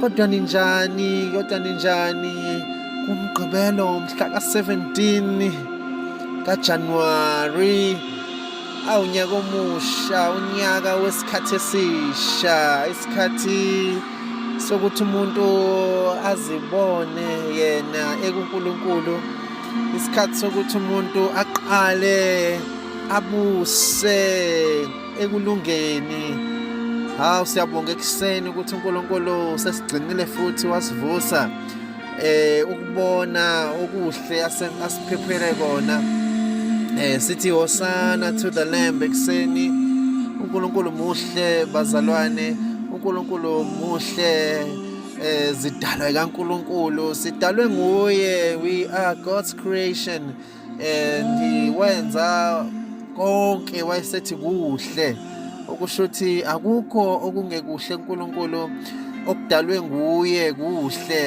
Kodwa ninjani? Kodwa ninjani? Kumgqibelo mhla ka-17 kaJanuwari awunyaka omusha unyaka wesikhathi esisha isikhathi sokuthi umuntu azibone yena ekuNkulunkulu isikhathi sokuthi umuntu aqale abuse ekulungeni hawu siyabonga ekuseni ukuthi uNkulunkulu sesigcinile futhi wasivusa eh ukubona okuhle asiphephele kona eh sithi hosana to the lamb ekuseni uNkulunkulu muhle bazalwane uNkulunkulu muhle eh zidalwa kaNkulunkulu sidalwe nguye we are God's creation and wenza konke wayesethi kuhle okusho ukuthi akukho okungekuhle uNkulunkulu okudalwe nguye kuhle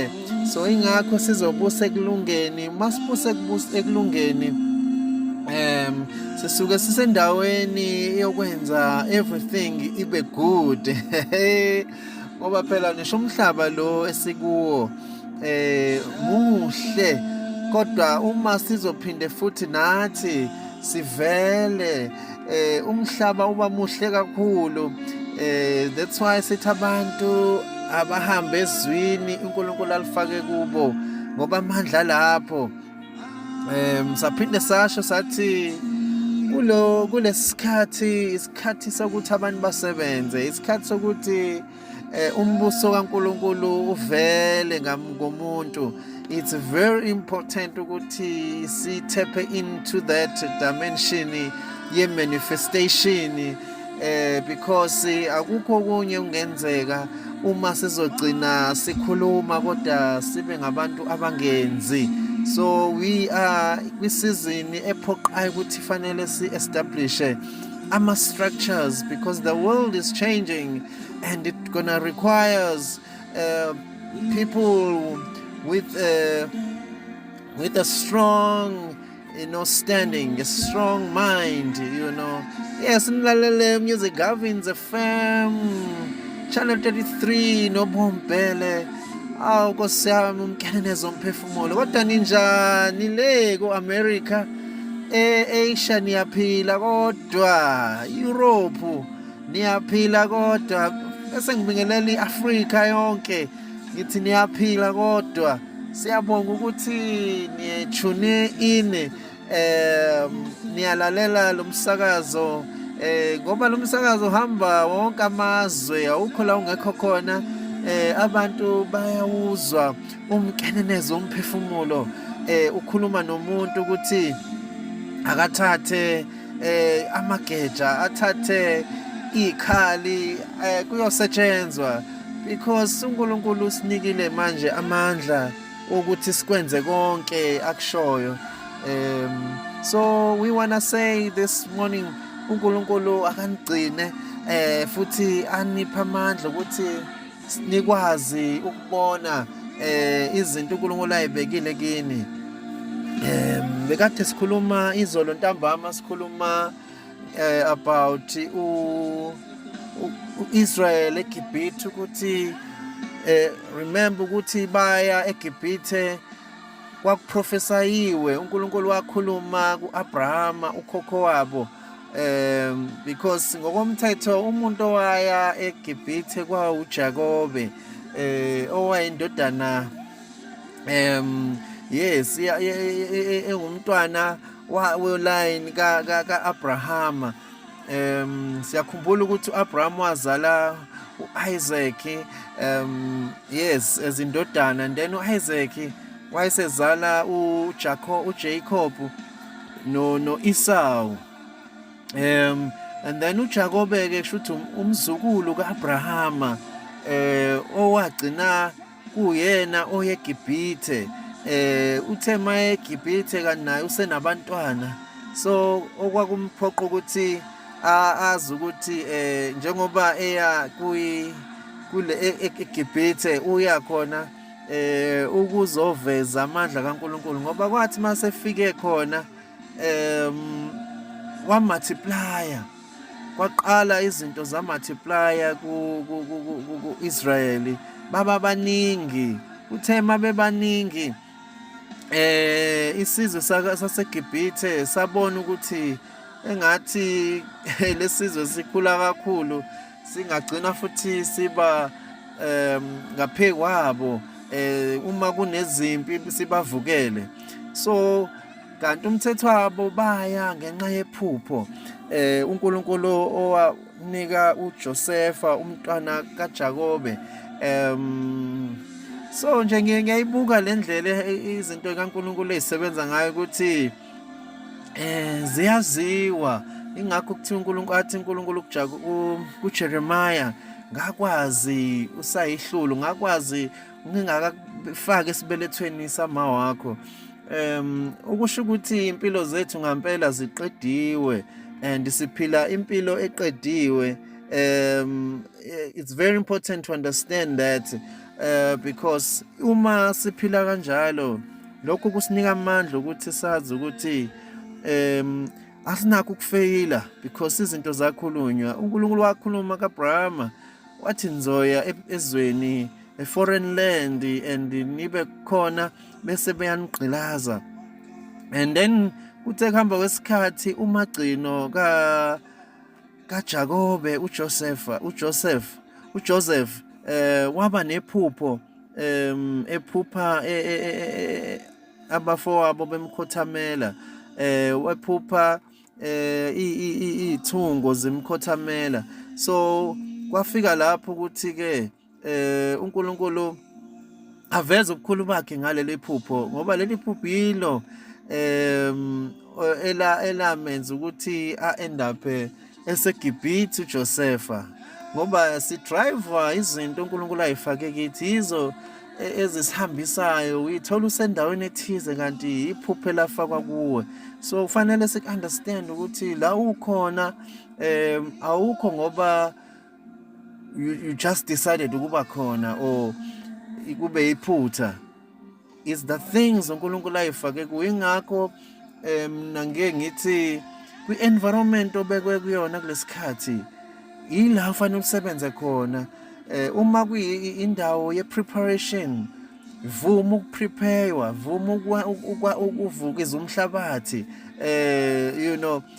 so ingakho sizobusa ekulungeni masibuse kubusa ekulungeni um sisuke sisendaweni yokwenza everything ibe good ngoba phela ngisho umhlaba lo esikuwo eh muhle kodwa uma sizophinde futhi nathi sivele eh umhlaba uba muhle kakhulu eh that's why sithi abantu abahambe ezwini uNkulunkulu alifake kubo ngoba amandla lapho um saphinde sasho sathi kulo kulesikhathi isikhathi sokuthi abantu basebenze isikhathi sokuthi eh, umbuso kaNkuluNkulu uvele ngomuntu it's very important ukuthi sithephe into that dimension ye manifestation eh because akukho kunye kungenzeka uma sizogcina sikhuluma kodwa sibe ngabantu abangenzi so we are kwisizini ephoqayo ukuthi fanele si establish ama structures because the world is changing and it gonna requires uh, people with uh, with a strong you know standing a strong mind you know yes nilalele music Gavin's FM channel 33 nobombele awu nkosi yami umkene nezomphefumulo kodwa ninjani le ku-america e-asia niyaphila kodwa europe niyaphila kodwa bese ngibingelela i-afrika yonke ngithi niyaphila kodwa Siyabonga ukuthi niye tune in um niyalalela lo msakazo eh ngoba lo msakazo uhamba wonke amazwe awukho la ungekho khona eh abantu bayawuzwa umkenenezo umphefumulo eh ukhuluma nomuntu ukuthi akathathe eh amageja athathe ikhali eh kuyosetshenzwa because uNkulunkulu usinikile manje amandla ukuthi sikwenze konke akushoyo um so we wanna say this morning uNkulunkulu akanigcine eh futhi anipha amandla ukuthi nikwazi ukubona eh izinto uNkulunkulu ayibekile kini um bekade sikhuluma izolo ntambama sikhuluma eh about u uIsrael eGibhithe ukuthi eh remember ukuthi baya eGibhithe kwakuprofesayiwe uNkulunkulu wakhuluma kuAbrahama ukhokho wabo um because ngokomthetho umuntu owaya eGibhithe kwawuJakobe eh owayendodana um yes engumntwana wa line ka ka, ka Abrahama um siyakhumbula ukuthi uAbraham wazala uIsaac um yes ezindodana and then uIsaac wayesezala uJacob uJacob no no Esau um and then uJakobe ke kusho ukuthi um, umzukulu kaAbrahama eh owagcina kuyena oyeGibhithe eh uthe maye eGibhithe kanti naye usenabantwana so okwakumphoqa ukuthi azi ukuthi eh njengoba eya kuyi kule e-, e-, eGibhithe uya khona eh ukuzoveza amandla kaNkuluNkulu ngoba kwathi masefike khona um wa multiplier kwaqala izinto za multiplier ku Israel baba baningi uthe mabebaningi eh isizwe saseGibhithe sabona ukuthi engathi lesizwe sikhula kakhulu singagcina futhi siba um ngaphekwabo eh uma kunezimpi sibavukele so kanti umthetho wabo baya ngenxa yephupho eh uNkulunkulu owanika uJosefa umntwana kaJakobe em so nje ngiyayibuka le ndlela izinto kaNkulunkulu ezisebenza ngayo ukuthi eh ziyaziwa ingakho kuthiwa uNkulunkulu athi uNkulunkulu kuJakobe kuJeremiah ngakwazi usayihlulu ngakwazi ngingakafaki esibelethweni sama wakho um ukusho ukuthi impilo zethu ngampela ziqediwe and siphila impilo eqediwe um it's very important to understand that uh, because uma siphila kanjalo lokho kusinika amandla ukuthi sazi ukuthi um asinakho ukufeyila because izinto zakhulunywa uNkulunkulu wakhuluma kaAbrahama wathi ngizoya e-, ezweni eforeign land and nibe khona bese beyanigqilaza and then kuthe kuhamba kwesikhathi umagcino ka kaJakobe uJosefa uJoseph uJoseph eh waba nephupho em ephupha e, e, e, abafowabo bemkhothamela eh wephupha eh ithungo zimkhothamela so kwafika lapho ukuthi ke eh uNkulunkulu aveze ubukhulu bakhe ngaleli phupho ngoba leli phupho yilo em ela elamenza ukuthi a end up eh, eseGibhithe uJosefa ngoba si driver izinto uNkulunkulu ayifake kithi yizo e, ezisihambisayo uyithola usendaweni ethize kanti iphuphe lafakwa kuwe so kufanele sik understand ukuthi la ukhona em awukho ngoba you, you just decided ukuba khona or kube iphutha is the things uNkulunkulu ayifake kuwe ingakho em nange ngithi kwi environment obekwe kuyona kulesikhathi yila ufanele usebenze khona eh uma kuyindawo ye preparation vuma ukupreparewa vuma ukuvukiza umhlabathi eh you know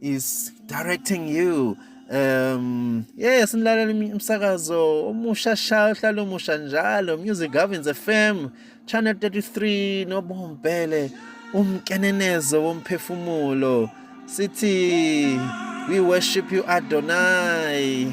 is directing you um yes nilalela umsakazo omusha sha uhlala omusha njalo music governs fm channel 33 nobombele umkenenezo womphefumulo sithi we worship you adonai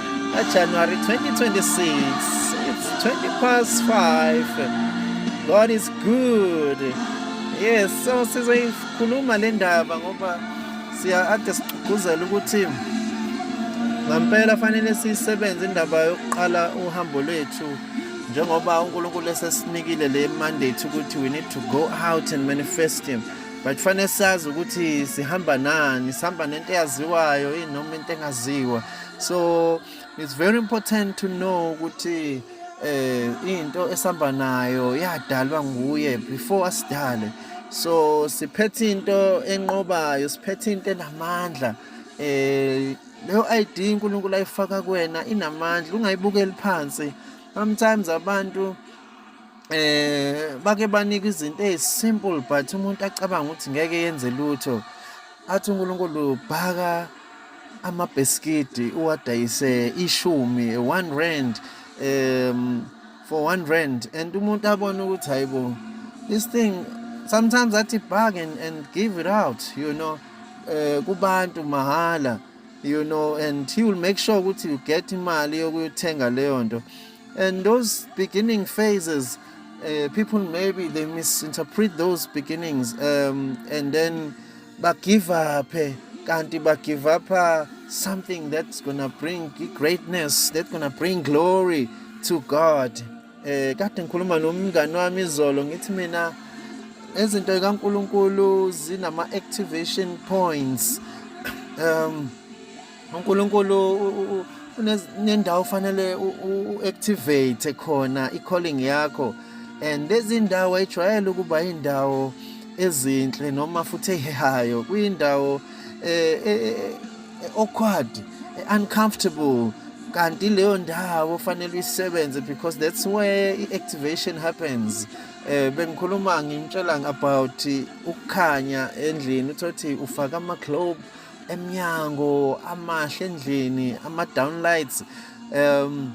January 2026. It's 20 past 5. God is good. Yes, so sizoyikhuluma le ndaba ngoba siya ade sigqugquzela ukuthi ngampela fanele sisebenze indaba yokuqala uhambo lwethu njengoba uNkulunkulu esesinikile le mandate ukuthi we need to go out and manifest him but fanele sazi ukuthi sihamba nani sihamba nento eyaziwayo inoma into engaziwa so it's very important to know ukuthi eh into esihamba nayo yadalwa nguye before asidale so siphethe into enqobayo siphethe into enamandla eh leyo ID uNkulunkulu ayifaka kuwena inamandla ungayibukeli phansi sometimes abantu eh bake banika izinto ezisimple but umuntu acabanga ukuthi ngeke yenze lutho athi uNkulunkulu bhaka amabheskidi uwadayise ishumi one rand um for one rand and umuntu abone ukuthi hayibo this thing sometimes athi bag and, and give it out you know uh, kubantu mahala you know and he will make sure ukuthi you get imali yokuyothenga leyo nto And those beginning phases, uh, people maybe they misinterpret those beginnings um, and then give up. Eh, kanti give up eh, something that's gonna bring greatness, that's gonna bring glory to God. Eh kade ngikhuluma nomngani wami izolo ngithi mina izinto zikaNkuluNkulu zinama activation points. Um uNkulunkulu unendawo fanele u-activate khona i-calling yakho and lezi ndawo ayijwayele ukuba indawo ezinhle noma futhi ehehayo kuyindawo eh, eh, eh, awkward uncomfortable kanti leyo ndawo fanele uyisebenze because that's where i-activation happens eh bengikhuluma ngimtshela about ukukhanya endlini uthothi ufaka ama-globe emnyango amahle endlini ama downlights um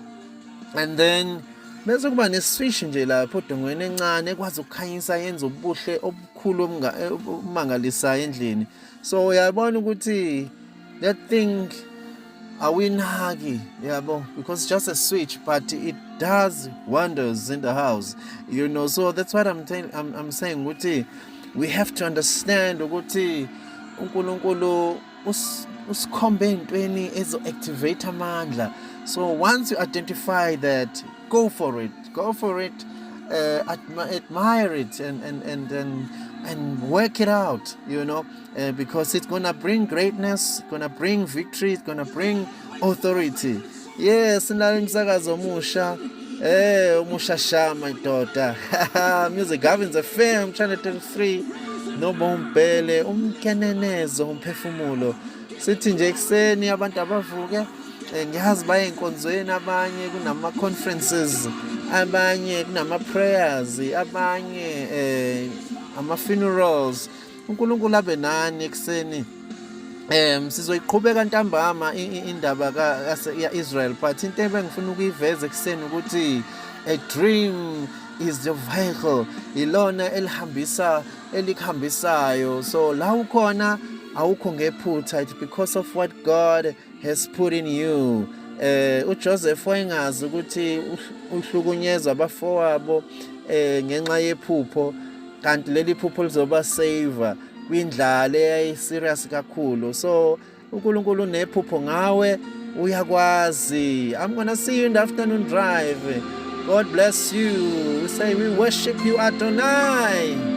and then bese kuba neswish nje lapho odongweni encane ekwazi ukukhanyisa yenza ubuhle obukhulu obumangalisayo endlini so uyabona ukuthi that thing awuyinaki yabo because just a switch but it does wonders in the house you know so that's what i'm, I'm, I'm saying ukuthi we have to understand ukuthi unkulunkulu usikhombe entweni ezo-activate amandla so once you identify that go for it go for it uh, admire it and, and, and, and, and work it out you know uh, because it's gonna bring greatness gonna bring victory it's gonna bring authority yes nalo umsakazo omusha eh umusha shama idoda music governs a firm channel 33 nobombhele umkenenezo umphefumulo sithi nje ekuseni abantu abavuke eh, ngiyazi baye enkonzweni abanye kunama conferences abanye kunama prayers abanye eh ama funerals uNkulunkulu abe nani ekuseni Em sizoyiqhubeka ntambama indaba ka Israel but into ebengifuna ukuyiveza ekseni ukuthi a dream is the vehicle ilona elihambisa elikhambisayo so la ukhona awukho ngephutha it's because of what God has put in you eh uJoseph wayengazi ukuthi uhlukunyezwa abafowabo eh ngenxa yephupho kanti leli phupho lizoba saver kwindlala eyayi serious kakhulu so uNkulunkulu unephupho ngawe uyakwazi i'm gonna see you in the afternoon drive God bless you. We say we worship you Adonai.